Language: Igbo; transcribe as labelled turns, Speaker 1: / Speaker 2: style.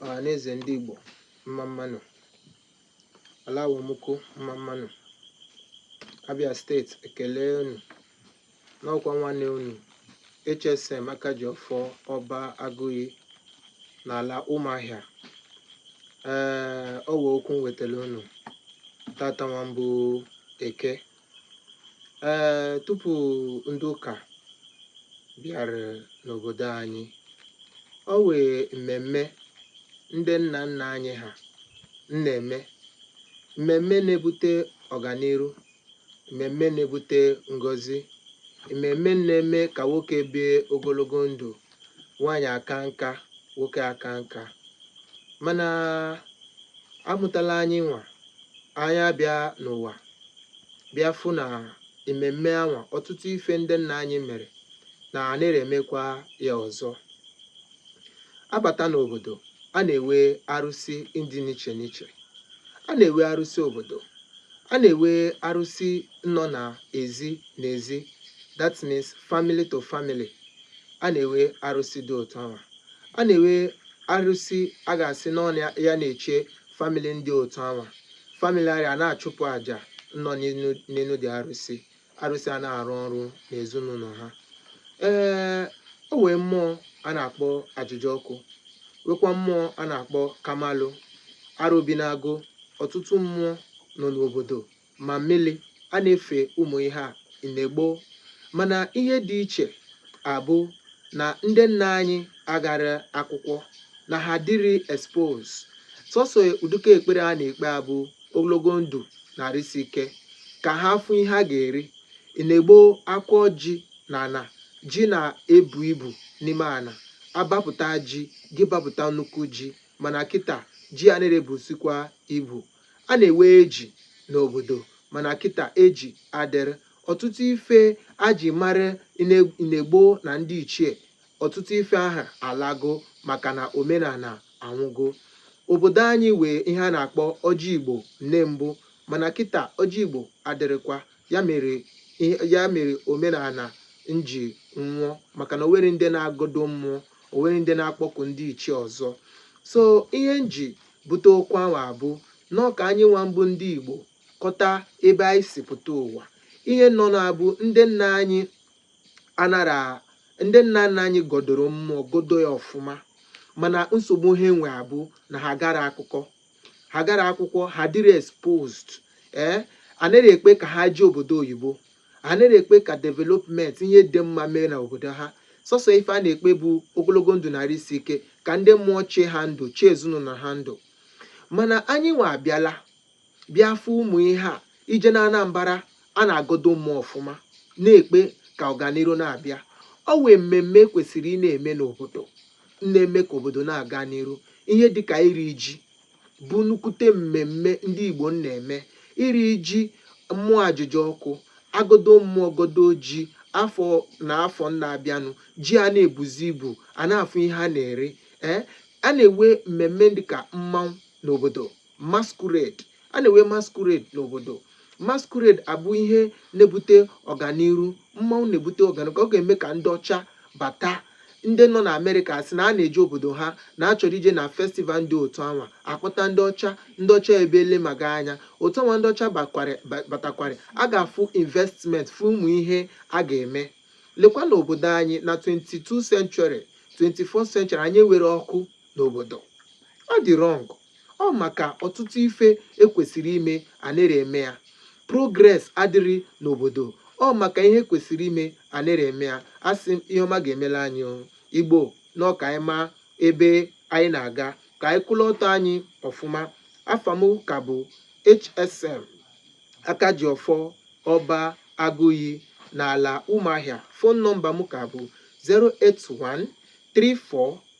Speaker 1: ọhaneze ndị Igbo mma mmanụ alawomụko mma mmanụ Abia state ekele unu n'ọkwa nwanne unu HSM Akajiọfọ Ọba Agụiyi n'ala Ụmụahịa ee o wee okwu m wetara unu tata nwa bụ Eke ee tupu ndị ụka bịara n'obodo anyị o wee mmemme ndị nna nna anyị ha na-eme mmemme na-ebute ọganiru mmemme na-ebute ngọzi mmemme na-eme ka nwoke bie ogologo ndụ nwaanyị aka nka nwoke aka nka mana a mụtala anyịnwa anyị abịa n'ụwa bịa fụ na ememme anwa ọtụtụ ife ndị nna anyị mere na anaghị emekwa ya ọzọ a bata n'obodo a na-ewe arụsị ndị n'iche n'iche a na-ewe arụsị obodo a na-ewe arụsị nọ na ezi na ezi that means family to family a na-ewe arụsị dị otu anwa a na-ewe arụsị a ga-asị na ọ ya na-eche family ndị otu anwa family arịa a na-achụpụ àjà nọ n'elu dị arụsị arụsị a na-arụ ọrụ n'ezinụlọ ha ee o wee mmụọ a na-akpọ Ahịajiọkụ wekwa mmụọ a na-akpọ Kamalụ Arọbịnagụ ọtụtụ mmụọ nọ n'obodo ma mmili a na-efe ụmụ ihe a ine gboo mana ihe dị iche abụ na ndị nna anyị agara akwụkwọ na ha adịrị expose sọsọ ụdịka ekpere a na-ekpe abụ ogologo ndụ na arụ isi ike ka ha fụ ihe ha ga-eri ine gboo a kọọ ji na ana ji na-ebu ibu n'ime ana a bapụta ji gị bapụta nnukwu ji mana kịta ji anaghị ebusikwa ibu A na-ewe eji n'obodo mana kịta eji adịrị. Ọtụtụ ife a ji mara ine gboo na ndị ichie, ọtụtụ ife ahụ alago maka na omenala anwụgo. Obodo anyị we ihe a na-akpọ ọjị Igbo nne mbụ mana kịta ọjị Igbo adịrịkwa ya mere omenala n ji nwụọ maka na o nweghị ndị na-agọdo mmụọ, o nweghị ndị na-akpọku ndị ichie ọzọ. So ihe m ji bute okwu ahụ abụ nọọ ka anyịnwa bụ ndị Igbo kọta ebe anyị si pụta ụwa. Ihe nọ na-abụ ndị nna anyị anara ndị nna nna anyị gọdoro mmụọ gọdo ya ọfụma mana nsogbu ha nwe abụ na ha agara akụkọ ha agara akwụkwọ ha adịrị exposed ee anaghị ekpe ka ha jee obodo oyibo Ha anịrị ekpe ka development, ihe dị mma mee na obodo ha. Sọsọ ife a na-ekpe bụ ogologo ndụ na arụ isi ike, ka ndị mmụọ chee ha ndụ, chee ezinaụlọ ha ndụ. Mana anyịnwa abịala bịa fụ ụmụ ihe a. I jee n'Anambara, a na-agọdo mmụọ ọfụma, na-ekpe ka ọganiru na-abịa. Ọ wụ mmemme e kwesịrị ị na-eme n'obodo, na-eme ka obodo na-aga n'iru, ihe dịka iri ji. bụ nnukwute mmemme ndị Igbo na-eme iri ji mmụọ Ahịajiọkụ a gọdo mmụọ gọdoo ji afọ na afọ na-abịanụ ji a na-ebuzi ibu a na-afụ ihe a na-eri ee a na-enwe mmemme dịka mmanwụ n'obodo masquerade a na-enwe masquerade n'obodo Masquerade a bụ ihe na-ebute ọganiru, mmanwụ na-ebute ọganiru ka ọ ga-eme ka ndị ọcha bata. Ndị nọ na America asị na a na-eje obodo ha na a chọrọ ije na festival dị otu anwa, a kpọta ndị ọcha, ndị ọcha ebe elemaga anya. Otu anwa ndị ọcha batakwara, a ga-afụ investment, fụ ụmụ ihe a ga-eme. Lekwa n'obodo anyị na 22 century, 24 century anyị enwere ọkụ n'obodo. Ọ dị wrong. Ọ maka ọtụtụ ife e kwesiri ime anịrị eme ya. Progress adịrị n'obodo. Ọ maka ihe e kwesiri ime anịrị eme ya. A sị m, ihe ọma ga-emela anyị Igbo, na ọ ka anyị maa ebe anyị na-aga. Ka anyị kwụlụ ọtọ anyị ọfụma. Afa m ka bụ HSM Akajiọfọ Ọba Agụiyi n'ala Ụmụahịa. Fon nọmba m ka bụ 081 34